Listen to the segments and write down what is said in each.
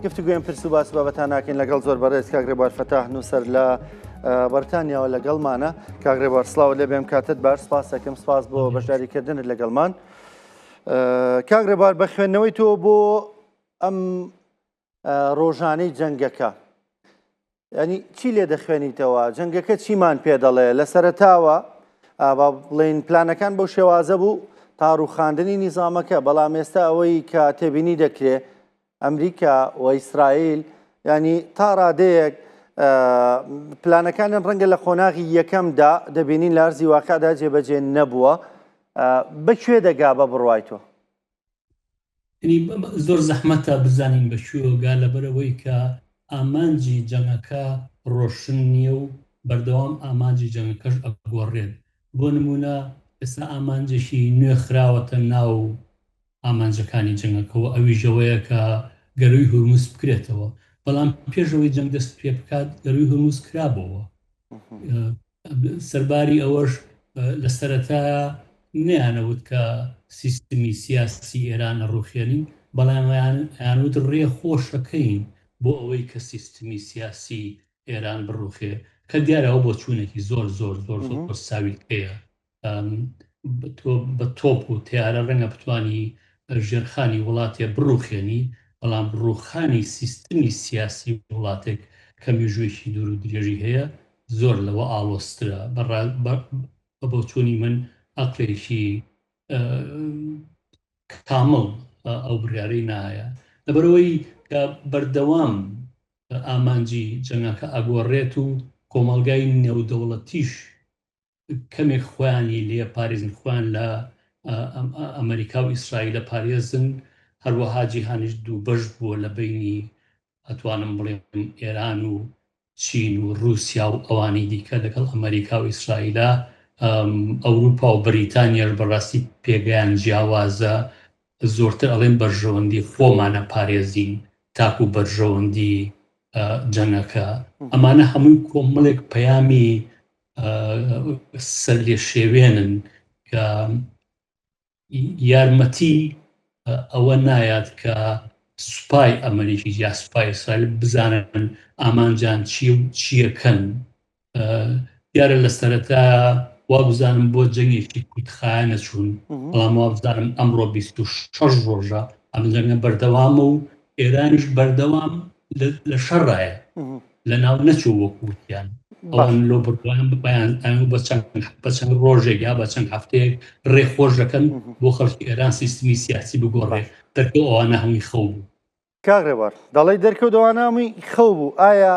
گفتوگوێن پرس و باس بابەتان ناکەین لەگەڵ زۆر بەڕێز کاک ڕێبوار فەتاح نووسەر لە بەرتانیاوە لەگەڵمانە کاک ڕێبوار سلااو لێ بێم کاتت بار سپاس دەکەم سپاس بۆ بەشداریکردنت لەگەڵمان کاک ڕێبار بە خوێندنەوەی تۆ بۆ ئەم ڕۆژانەی جەنگەکە یانی چی لێ دەخوێنیتەوە جەنگەکە چیمان پێ دەڵێ لە سەرتاوە با بڵین پلانەکان بەو شێوازە بوو تا ڕوخاندنی نیزامەکە بەڵام ئێستا ئەوەی کە تێبینی دەکرێ ئەمریکا و ئیسرائیل ینی تا ڕادەیەک پلانەکانیان ڕەنگە لە قۆناغی یەکەمدا دەبینین لارزی واقعدا جێبەجێ نەبووە بەکوێ دەگا بە بڕوای تۆ زۆر زەحمەتە بزانین بە کوێوەگا لەبەرەوەی کە ئامانجی جەنگەکە ڕۆشن نییە و بەردەوام ئامانجی جەنگەکەش ئەگۆڕێن بۆ نمونە ئێستا ئامانجێکی نوێ خراوەتە ناو ئامانجەکانی جەنگەکەەوە ئەوی ژەوەیە کە گەروی هورمز بکرێتەوە بەڵام پێشەوەی جەنگ دەست پێ بکات گەروی هورمز کرابەوە سەرباری ئەوەش لە سەرەتایا نەیانەوت کە سیستمی سیاسی ئێران ئەڕوخێنین، بەڵام ئەیانوت ڕێ خۆشەکەین بۆ ئەوەی کە سیستمی سیاسی ئێران بڕوخێ، کە دیارە ئەوە بۆچوونێکی زۆر زۆر زۆر زۆر ساویلکەیە تۆ بە تۆپ و تیارە ڕەنگە بتانی ژێرخانی وڵاتێ بڕوخێنی بەڵام ڕوخانی سیستمی سیاسی وڵاتێک کە میژوێکی دوور و درێژی هەیە زۆر لەوە ئاڵۆسترە بە بۆچوونی من ئەقلێکی کامڵ ئەو بڕارەی نایە لەبەرەوەی کە بەردەوام ئامانجی جەنگەکە ئەگۆڕێت و کۆمەلگای نێودەوڵەتیش کەمێک خۆیانی لێ پاریزن خۆیان لە ئەمریکا و ئیسرائیلە پارێزن هەروەها جیهانیش دوو بەش بووە لە بینی ئەتوانم بڵێم ئێران و چین و رووسیا و ئەوانی دیکە لەگەڵ ئەمریکا و ئیسرائیلە ئەوروپا و بریتانیاش بەڕاستی پێگەیان جیاوازە زۆرتر ئەڵێن بەرژەوەندی خۆمانە پارێزین تاکو بەرژەوەندی جەنگەکە ئەمانە هەمووی کۆمەڵێک پەیامی سەرلێشێوێنن کە یارمەتی ئەوە نایات کە سوپای ئەمریکی یا سوپای ئیسرائیل بزانن ئامانجان چی و چیەکەن دیارە لە سەرەتا وابزانم بۆ جەنگێکی کوتخایەنە چوون بەڵام وابزانم ئەمڕۆ 26 ڕۆژە ئەم جەنگە بەردەوامە و ئێرانیش بەردەوام لە شەڕایە لە ناو نەچوو وەک وتیان ئەوان لۆ بڕوان بپیان ئەم بە چەند بە چەند ڕۆژێک یا بە چەند هەفتەیەک ڕێ خۆش دەکەن بۆ خەڵکی ئێران سیستمی سیاسی بگۆڕێ دەرکە ئەوانە هەمووی خەو بوو کاغێوار دەڵی دەرکەوتەوانامی خەو بوو ئایا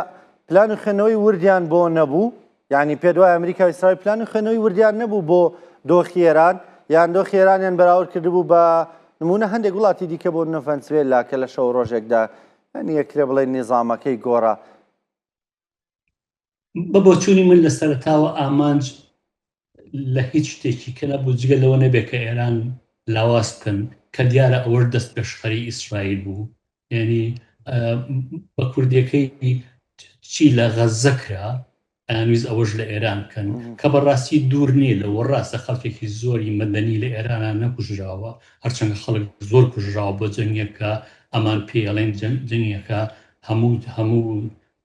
پلان و خوێنەوەی وردیان بۆ نەبوو یانی پێت وای ئەمریکا و ئیسرائیل پلانی خوێنەوەی وردیان نەبوو بۆ دۆخی ئێران یان دۆخی ئێرانیان بەراورد کردبوو بە نمونە هەندێک وڵاتی دیکە بۆ نە ڤەنسوێلا کە لە شەو ڕۆژێکدا یانی یەکرێ بڵێ نیزامەکەی گۆڕا بە بۆچوونی من لە سەرتاوە ئامانج لە هیچ شتێکی کە نەبوو جگە لەوە نەبێت کە ئێران لاواز بکەن کە دیارە ئەوەش دەست پێشخەری ئیسرائیل بوو یعنی بە کوردەکەی چی لە غەزە کرا ئامیز ئەوەش لە ئێران بکەن کە بەڕاستی دوور نییە لە وەڕاستە خەڵکێکی زۆری مەدەنی لە ئێران نەکوژراوە هەرچەند خەڵک زۆر کوژراوە بۆ جەنگەکە ئەمان پێڵێن جەنگەکە هەموو هەموو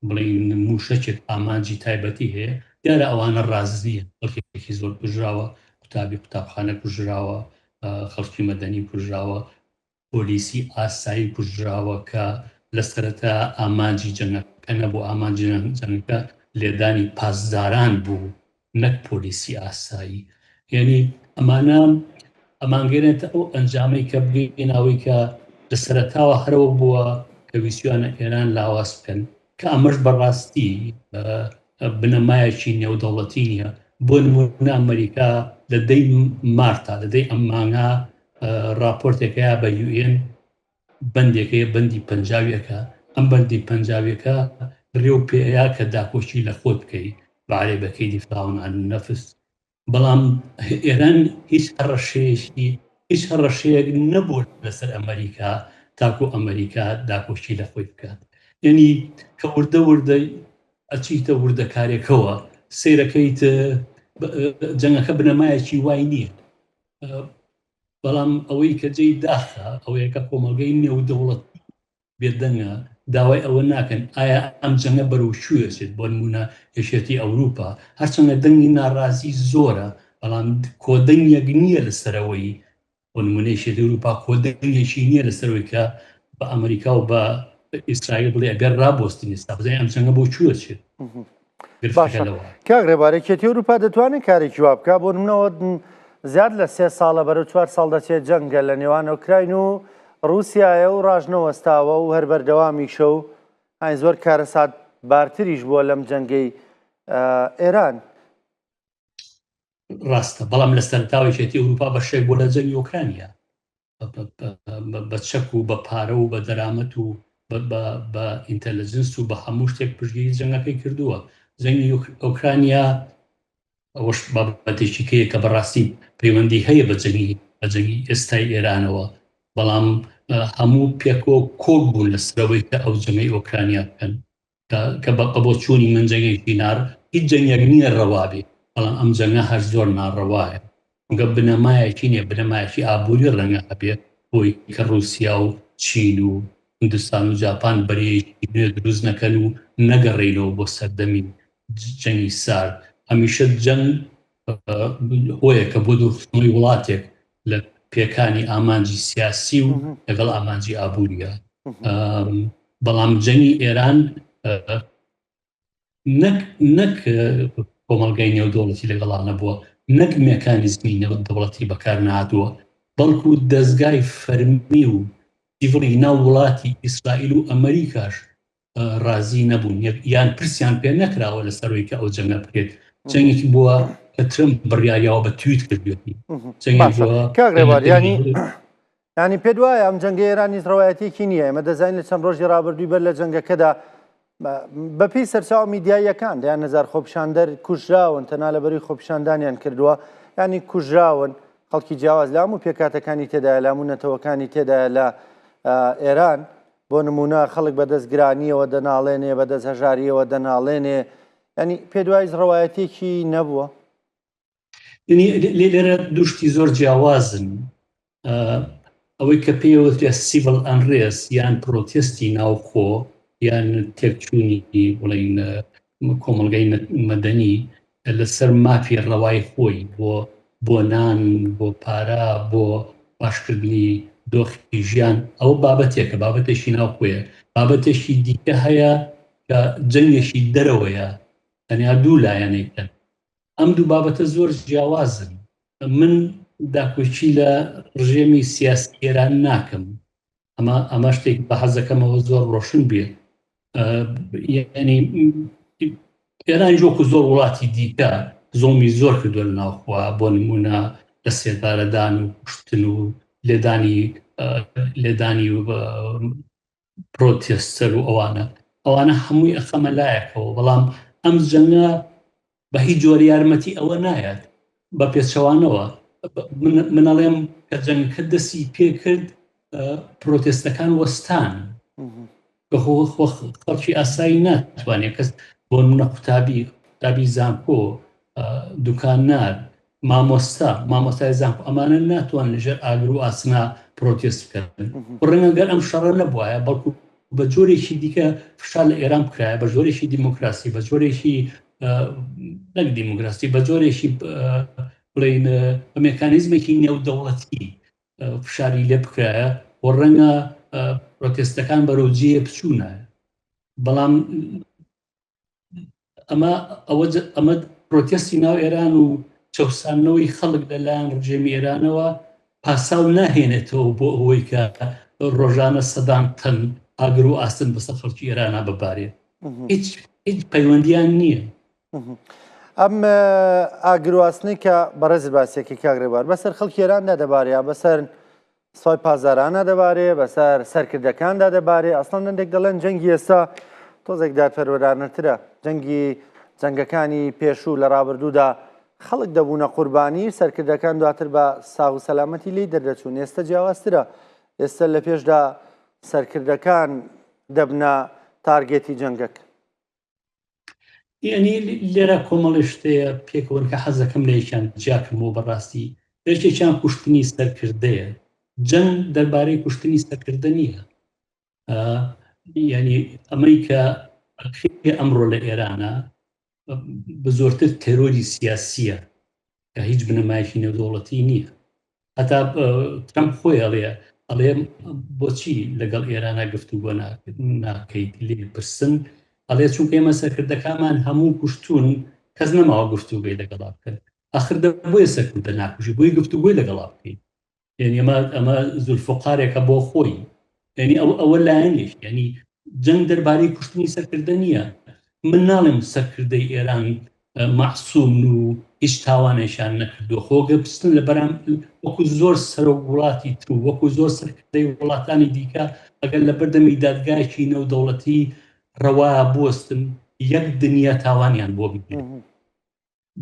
بڵین موشەکێک ئامانجی تایبەتی هەیە دیارە ئەوانە ڕازنیە خەڵکێکی زۆر کوژراوە قوتابی قوتابخانە کوژراوە خەڵکی مەدەنی کوژراوە پۆلیسی ئاسایی کوژراوە کە لە سەرەتا ئامانجی جەنگەکە نەبوو، ئامانجی جەنگەکە لێدانی پاسداران بوو نەک پۆلیسی ئاسایی. یەنی ئەمانە ئەمانگەێنێتە ئەو ئەنجامەی کە بگەین ئەوەی کە لە سەرەتاوە هەرەوە بووە کە ویسیوانە ئێران لاواز بکەن کە ئەمەش بەڕاستی بنەمایەکی نێودەوڵەتی نیە بۆ نمونە ئەمریکا لە دەی مارتا لە دەی ئەم مانگا ڕاپۆرتێک هەیە بە یوئێن بەندێک هەیە بەندی پەنجاویەکە ئەم بەندی پەنجاویەکە ڕێ و پێەیە کە داپۆشی لە خۆت بکەی بەعرێ بەکەی دیفاون عن نەفس بەڵام ئێران هیچ هەڕەشەیەشی هیچ هەڕەشەیەک نەبوو لەسەر ئەمریکا تاکو ئەمریکا داپۆشی لە خۆی بکات یعنی کە وردە وردە ئەچیتە وردەکارێکەوە سیرەکەیت جەنگەکە بنەمایەکی وای نییە بەڵام ئەوەی کە جێی داخە ئەوەیە کە کۆمەڵگەی نێودەوڵەت بێدەنگە داوای ئەوە ناکەن ئایا ئەم جەنگە بەرەو شوێچێت بۆ نمونە یەکێتی ئەوروپا هەرچەندە دەنگی ناڕازی زۆرە بەڵام کۆدەنگێک نییە لە سەرەوەی بۆ نمونەی شێت ئەوروپا کۆدەنگێکی نییە لە سەرەوەی کە بە ئەمریکا و بە ئیسرائیل بڵێ ئەگەر ڕابۆستنی سابزای ئەم جەنگە بۆ چوەچێت باشە کاک ڕێبار یەکێتی ئەوروپا دەتوانێت کارێکی وا بکە بۆ منەوە زیاد لە سێ ساڵە بەرە چوار ساڵ دەچێت جەنگە لە نێوان ئۆکراین و رووسایە و ڕژنەوەستاوە و هەر بەردەوامیشە و ئاین زۆر کارەسات بارتریش بووە لەم جەنگەی ئێران ڕاستە بەڵام لە سەرتاوێکێتی ئەوروپا بەشێک بۆ لە جەنگی ئۆکرانیا بە چەک و بە پارە و بە دەرامەت و بە ئینتەلجنس و بە هەموو شتێک پشگیری جەنگەکەی کردووە جەنگی ئۆکرانیا ئەوش بابەتێکیکەیە کە بەڕاستی پەیوەندی هەیە بە جەنگی بە جەنگی ئێستای ئێرانەوە بەڵام هەموو پێکۆ کۆک بوون لە سرەوەی کە ئەو جەنگی ئۆکرانیا بکەن کە بە قەبۆ چوونی من جەنگێکی نار هیچ جەنگێک نییە ڕەوابی بەڵام ئەم جەنگە هەر زۆر ناڕەوایە گە بنەمایەکی نیە بنەمایەکی ئابووری ڕەنگە هەبێت بۆی کە ڕوسیا و چین و هندستان و جاپان بەرەیەکی نوێ دروست نەکەن و نەگەڕینەوە بۆ سەردەمی جەنگی سارد هەمیشە جەنگ هۆیەکە بۆ دوورخستنەوەی وڵاتێک لە پێکانی ئامانجی سیاسی و لەگەڵ ئامانجی ئابووریە بەڵام جەنگی ئێران نەک نەک کۆمەلگای نێودوڵەتی لەگەڵانە بووە نەک مەکانیزمی نەوە دەوڵەتی بەکار نادووە بەڵکو دەستگای فەرمی و دیڤڵی ناو وڵاتی ئیسرائیل و ئەمریکاش ڕازی نەبوون یان پرسیان پێ نەکراوە لە سەرۆی کە ئەو جەنگە بکرێت جەنگێکی بووە کە ترم بڕیاریاوە بە تویت کردوێتی کاغێواریانی ینی پێ وایە ئەم جەنگە ئێرانی ڕواەتێکی نییە ئەمە دەزانین لە چەند ڕۆژی ڕابردووی بەر لە جەنگەکەدا بەپی سەرچاو میدیاییەکان دەیان نزار خۆپشاندەر کوژراون تەنا لە بەری خۆپشاندانیان کردووە ینی کوژراون خەڵکی جیاواز لام و پێکاتەکانی تێدا لام و نەتەوەکانی تێدا لە ئێران بۆ نموونە خەڵک بەدەست گرانیەوە دەناڵێنێ بەدەست هەژاریەوە دەناڵێنێ ینی پێدوایز ڕەوایەتێکی نەبووە لێرە دوشتی زۆر جیاوازن ئەوەی کە پێوەترێ سیڤل ئەنرێس یان پرۆتستی ناوخۆ یان تێکچوونی بڵین کۆمەلگای مەدەنی لەسەر مافی ڕەوای خۆی بۆ بۆ نان، بۆ پارە، بۆ باشکردنی دۆخی ژیان، ئەوە بابەتێکە، بابەتێکی ناوخۆیە. بابەتێکی دیکە هەیە کە جەنگێکی دەرەوەیە، تەنیا دوو لایەنێک هەن. ئەم دوو بابەتە زۆر جیاوازن. من داکۆکی لە ڕژێمی سیاسی ئێران ناکەم، ئەمە ئەمە شتێک بە حەزەکەمەوە زۆر ڕۆشن بێ ینی ئێران جۆکو زۆر وڵاتی دیکە زۆمی زۆر کردو لە ناوخوا بۆ نمونە لە سێدارەدان و کوشتن و لێدانی لێدانی و پرۆتێستەر و ئەوانە ئەوانە هەمووی ئەخەمە لایەکەوە بەڵام ئەم جەنگە بە هیچ جۆر یارمەتی ئەوە نایات بە پێچەوانەوە منەڵێم کە جەنگکە دەستی پێکرد پرۆتێستەکان وەستان خەڵکی ئاسایی ناتوانێت کەس بۆ منە قوتابی قوتابی زانکۆ دوکان نار مامۆستا، مامۆستای زانکۆ، ئەمانە ناتوان لەژێر ئاگر و ئاسنا پرۆتێست بکەن. ڕەنگە گەر ئەم شەڕە نەبوایە بەڵکو بە جۆرێکی دیکە فشار لە ئێران بکرایە بە جۆرێکی دیموکراسی بە جۆرێکی نەک دیموکراسی بە جۆرێکی بڵین بە مکانیزمێکی نێودەوڵەتی فشاری لێ بکرایە و ڕەنگە پرۆتێستەکان بەرەو جێ بچوونایە بەڵام ئەمە ئەوە ئەمە پرۆتستی ناو ئێران و چەسانەوەی خەڵک لەلایەن ڕژێمی ئێرانەوە پاساو ناهێنێتەوە بۆ ئەوەی کە ڕۆژانە سەدان تەن ئاگر و ئاستن بەسە خەڵکی ئێرانە ببارێت هیچ هیچ پەیوەندیان نییە ئەم ئاگرواستنەی کە بەڕێز باسێکی کاگرێبار بەسەر خەڵکی ئێراندا دەبارەیە بەسەر سای پاسدارانە دەبارێ بەسەر سەرکردەکاندا دەبارێ ئەسڵان دەندێک دەڵێن جەنگی ئێستا تۆزێک دادپەروەرانەترە جەنگی جەنگەکانی پێشوو لە ڕابردوودا خەڵک دەبوونە قوربانی سەرکردەکان دواتر بە ساغ و سەلامەتی لی دەردەچوون ئێستا جیاوازترە ئێستا لە پێشدا سەرکردەکان دەبنە تارگێتی جەنگەکە یعنی لێرە کۆمەڵی شتەیە پێکەوەن کە حەزەکەم لەیشان جیاکەمەوە بەڕاستی یەکێکیان کوشتنی سەرکردەیە جەنگ دەربارەی کوشتنی سەرکردە نییە یعنی ئەمەی کە ئەمڕۆ لە ئێرانە بە زۆرتر تەرۆری سیاسیە کە هیچ بنەمایکی نێودوڵەتی نییە هەتا ترەمپ خۆی ئەڵێ ئەڵێ بۆچی لەگەڵ ئێرانە گفتو بۆ ناکەیت لێ پرسن ئەڵێ چونکە ئێمە سەرکردەکانمان هەموو کوشتون کەس نەماوە گفتوگەی لەگەڵا بکەن ئەخر بۆیە سەرکردە ناکوژی بۆی گفتوگوی لەگەڵا بکەین یعنی ئەمە ئەمە زولفقارێکە بۆ خۆی یعنی ئەو ئەوە لایەنێک یعنی جەنگ دەربارەی کوشتنی سەرکردە نییە من ناڵێم سەرکردەی ئێران مەعسوم و هیچ تاوانێکیان نەکردووە خۆگە بستن لە بەرام وەکو زۆر سەر و وڵاتی تر و وەکو زۆر سەرکردەی وڵاتانی دیکە ئەگەر لە بەردەمی دادگایکی نەو دەوڵەتی ڕەوا بستن یەک دنیا تاوانیان بۆ بگرن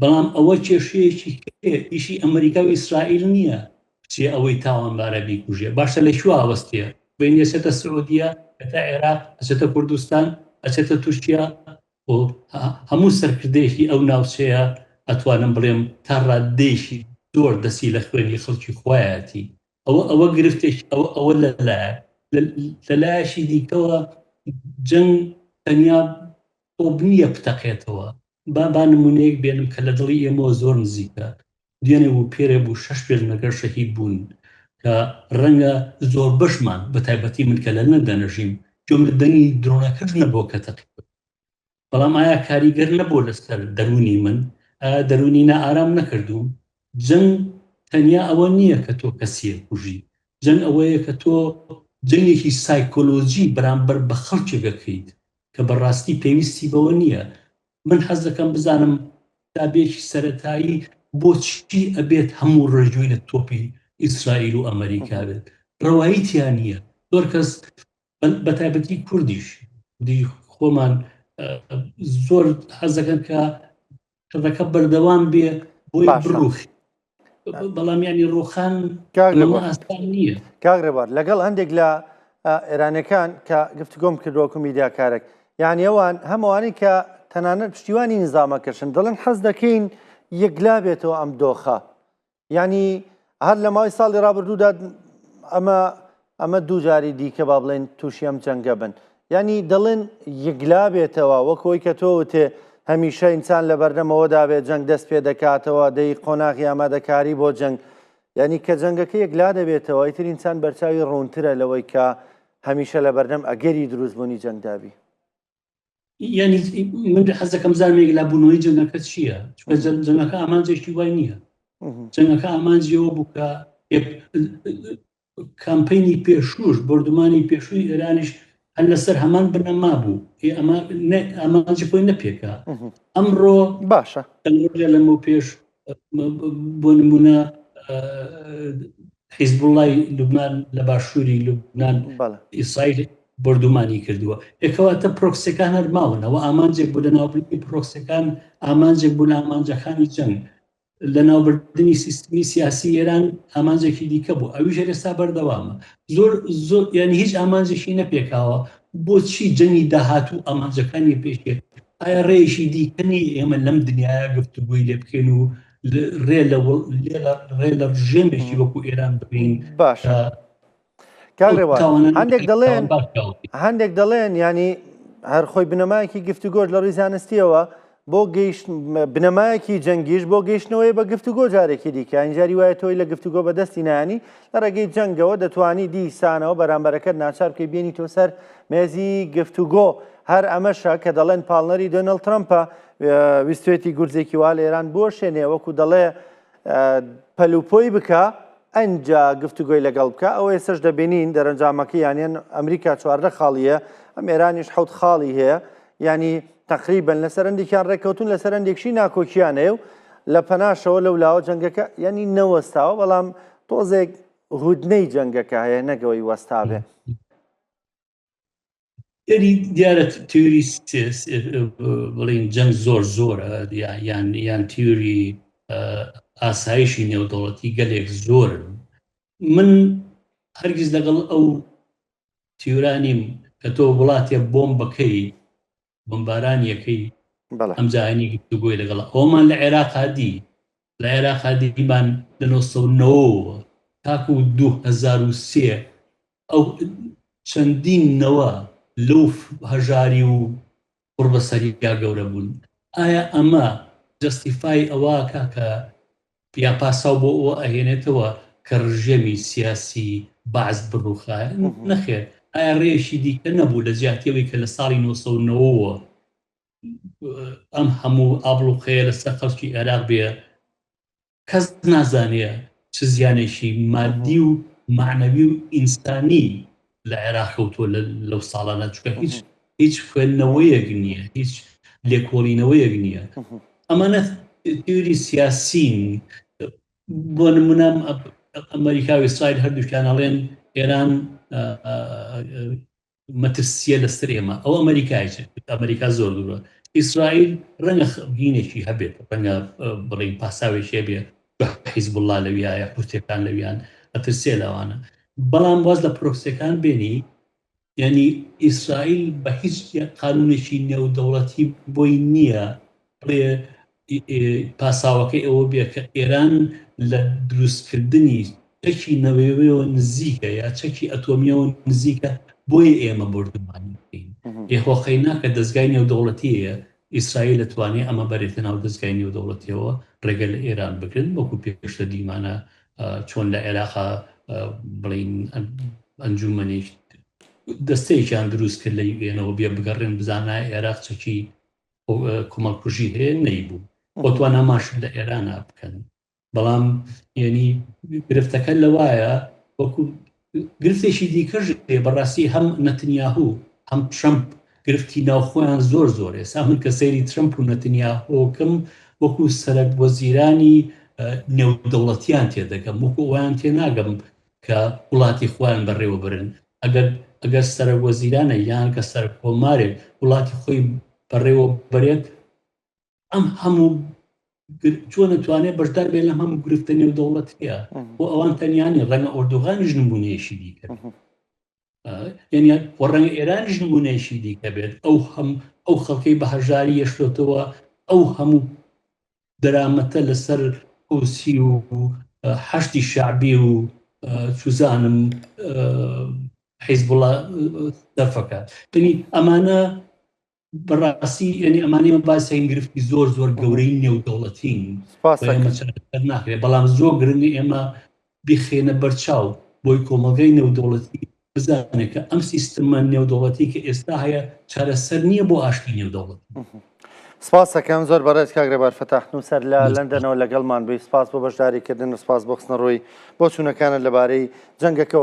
بەڵام ئەوە کێشەیەکی کێ ئیشی ئەمەریکا و ئیسرائیل نییە بچێ ئەوەی تاوانبارە بیکوژێ باشە لە کوێ ئاوەستێ بین ئەچێتە سعودیە ئەتا عێراق ئەچێتە کوردستان ئەچێتە تورکیا بۆ هەموو سەرکردەیەکی ئەو ناوچەیە ئەتوانم بڵێم تا ڕاددەیەکی زۆر دەسی لە خوێنی خەڵکی خوایەتی ئەوە ئەوە گرفتێک ئەوە ئەوە لەلایە لەلایەکی دیکەوە جەنگ تەنیا بۆ بنیە بتەقێتەوە با با نموونەیەک بێنم کە لە دڵی ئێمەوە زۆر نزیکە، دوێنێ بوو پێرێ بوو شەش پێشمەرگە شەهید بوون کە ڕەنگە زۆربەشمان بە تایبەتی من کە لە لەندەن ئەژیم گوێم لە دەنگی درۆنەکەش نەبووە کە تەقیبوو بەڵام ئایا کاریگەر نەبوو لەسەر دەروونی من؟ ئایا دەروونی نائارام نەکردووم؟ جەنگ تەنیا ئەوە نییە کە تۆ کەسییەک کوژی، جەنگ ئەوەیە کە تۆ جەنگێکی سایکۆلۆجی بەرامبەر بە خەڵکێک ئەکەیت کە بەڕاستی پێویستی بەوە نییە من حەز دەکەم بزانم قوتابیەکی سەرەتایی بۆچی ئەبێت هەموو ڕێژوی لە تۆپی ئیسرائیل و ئەمریکا بێت ڕەوایی تیان نییە زۆر کەس بە تایبەتی کوردیش دی خۆمان زۆر حەزەکەن کە کەڵەکە بەردەوام بێ بۆی بڕوخ بەڵام ینی ڕۆخان نییە کاگرێبار لەگەڵ هەندێک لە ئێرانەکان کە گفتگۆم کردوەکو میدیاکارێک یعنی ئەوان هەمووانی کە تەنانەت پشتیوانی نزامەکەشن دەڵێن حەز دەکەین یەکلا بێتەوە ئەم دۆخە یعنی هەر لە ماوەی ساڵی ڕابردوودا ئەمە ئەمە دووجاری دیکە با بڵێن تووشی ئەم جەنگە بن ینی دەڵێن یەکلا بێتەوە وەکەوەی کە تۆوتێ هەمیشە ئینسان لە بەردەمەوەدا بێت جەنگ دەست پێ دەکاتەوە دەی قۆناغی ئامادەکاری بۆ جەنگ یعنی کە جەنگەکە یەکلا دەبێتەوە ئیتر ئینسان بەرچاوی ڕوونترە لەوەی کە هەمیشە لە بەردەم ئەگەری دروستبوونی جەنگدابی یعنی من حەز دەکەم زانێک لە بوونەوەی جەنگەکە چییە چکە جەنگەکە ئامانجێکی وای نییە جەنگەکە ئامانجیەوە بووکە کامپینی پێشوش بردومانی پێشووی ئێرانیش هەر لەسەر هەمان بنەما بوو ئەمانجی خۆی نەپێکا ئەمڕۆ باشە لەمە پێش بۆ نمونە حیزبوڵای لوبناان لە باشووری لوبناان ئیسرائیل بردومانی کردووە ێکەواتە پرۆکسەکان هەر ماونەوە ئامانجێک بوو لە ناوبردنی پرۆکسەکان ئامانجێک بوو لە ئامانجەکانی جەنگ لە ناوبردنی سیستمی سیاسی ئێران ئامانجێکی دیکە بوو ئەوی ژێرێستا بەردەوامە زۆر زۆر یانی هیچ ئامانجێکی نەپێکاوە بۆچی جەنگی داهاتوو ئامانجەکانی پێشێت ئایا ڕێشی دیکەنی ئێمە لەم دنیاە گفتوگوی لێ بکەین و ڕێ لە ڕێ لە ڕژێمێکی وەکو ئێران بکەین باش هەندێک دەڵێن هەندێک دەڵێن ینی هەرخۆی بنەمایەکی گفتوگۆش لە ڕیزانستیەوە بۆ گەیشت بنەمایەکی جەنگیش بۆ گەیشتنەوەی بە گفتوگۆ جارێکی دیکە ئینجاری وایە تۆی لە گفتوگۆ بەدەستی نانی لە ڕێگەی جەنگەوە دەتوانی دیسانەوە بەرامبەرەکەت ناچار بکەی بێنی تۆ سەر مێزی گفتوگۆ هەر ئەمەشە کە دەڵێن پاڵنەری دۆنەڵد ترەمپە ویستێتی گورزێکی وا لە ئێران بۆ شێنێ وەکو دەڵێ پەلوپۆی بکە ئەجا گفتوگوۆی لەگەڵ بکە ئەوە ئێسش دەبینین دەرەنجامەکە یانەن ئەمریکا چواردە خاڵیە ئەم ئێرانیش حوت خاڵی هەیە ینی تەقریبن لە سەرنجێکیان ڕێککەوتون لە سەرنجێکشی ناکۆکییانەیە و لە پەناشەوە لەو لاوە جەنگەکە ینی نەوەستاوە بەڵام تۆزێک هودنەی جەنگەکە هەیە نەگەوەی وەستاێ یعنی دیارە تیوری بڵین جەنگ زۆر زۆرە یان یان تیوری ئاسایشی نێودەوڵەتی گەلێک زۆرن من هەرگیز لەگەڵ ئەو تیورا نیم کە تۆ وڵاتێ بۆم بەکەی بۆمباران یەکەی بەڵێ ئەمجا هەنی گفتو گۆی لەگەڵ ئەومان لە عێراقا دی لە عێراقا دیمان لە نۆ سەد و نەوەوە تاکو دوو هەزار و سێ ئەو چەندین نەوە لەو هەژاری و قوڕ بەسەریا گەورە بوون ئایا ئەمە جەستیفای ئەوەکا کە یان پاساو بۆ ئەوە ئەهێنێتەوە کە ڕژێمی سیاسی بەعس بڕوخایە نەخێر ئایا ڕێشی دیکە نەبوو لە جیاتیەوەی کە لە ساڵی 1990ەوە ئەم هەموو ئابلوقەیە لەسەر خەڵکی عێراق بێ کەس نازانێ چ زیانێکی مادی و مەعنەوی و ئینسانی لە عێراق کەوتووە لەو ساڵانە، چونکە هیچ هیچ خوێندنەوەیەک نییە، هیچ لێکۆڵینەوەیەک نییە. ئەمانە تیۆری سیاسین، بۆ نمونە ئەمریکا و ئیسرائیل هەردووکیان ئەڵێن ئێران مەترسیە لەستر ئێمە ئەو ئەمەریکایە ئەمەریکا زۆر دوورە ئیسرائیل ڕەنگە خەبینێکی هەبێت ڕەنگە بڵین پاساوێکێ بێ حیزب الله لەویایە حوتەکان لەویان ئەترسێ لەوانە بەڵام واز لە پرۆکسەکان بێنی یعنی ئیسرائیل بە هیچ قانونێکی نێودەوڵەتی بۆی نییە بڵێ پاساوەکەی ئەوە بێ کە ئێران لە دروستکردنی چەکی نەوەویەوە نزیکە یا چەکی ئەتۆمیەوە نزیکە بۆیە ئێمە بۆردومانی بکەین لێ هۆقەی ناکە دەستگای نێودەوڵەتیەیە ئیسرائیل لەتوانێ ئەمە بەرێتە ناو دەستگای نێودەوڵەتیەوە ڕێگە لە ئێران بگرن وەکو پێشتر دیمانە چۆن لە عێراقا بڵین ئەنجومەنیش دەستەیەکیان دروست کرد لە یوێنەوە بێ بگەڕێن بزانە عێراق چەکی کۆمەڵکوژی هەیە نەیبوو بۆ توانا ماش لە ئێرانا بکەن بەڵام یعنی گرفتەکە لەوایە وەکو گرفتێکی دیکەش بەڕاستی هەم نەتنیاهوو هەم ترمپ گرفتی ناوخۆیان زۆر زۆر ئێسا من کە سەیری ترمپ و نەتنیاهۆکم وەکو سەرەک وەزیرانی نێودەوڵەتیان تێدەگەم وەکو ئەویان تێناگەم کە وڵاتی خۆیان بەڕێوەبرن ئەگەر ئەگەر سەرە وەزیرانە یان کە سەر کۆمارێک وڵاتی خۆی بەڕێوە بەرێت ئەم هەموو چۆن نتوانێت بەشدار بێت لە هەموو گرفتە نێو دەوڵەتەیە بۆ ئەوان تەنیانی ڕەنگە ئۆردوغانیش نمونەیەشی دیکە ڕەنگە ئێرانیش نمونەیەکی دیکە بێت ئەو هەم ئەو خەڵکەی بە هەژاری یەشتۆتەوە ئەو هەموو دەرامەتە لەسەر ئۆسی و حەشتی شعبی و چزانم حیزبڵە دەفەکە تنی ئەمانە بەڕاستی ئەنی ئەمانی من باسیین گرفتی زۆر زۆر گەورەی نێودەوڵەتین ناکرێت بەڵام زۆر گرنگ ئێمە بخێنە بەرچاو بۆی کۆمەلگای نێودەوڵەتی بزانێت کە ئەم سیستمە نێودەوڵەتی کە ئێستا هەیە چارەسەر نییە بۆ ئاشتی نێودەوڵەت سپاسەکەم زۆر بەڕێز کاگرێبار فەتاح نووسەر لە لەندەنەوە لەگەڵمان بووی سپاس بۆ بەشداریکردن سپاس بۆ خستنە ڕۆی بۆ چوونەکانت لەبارەی جەنگەکەەوە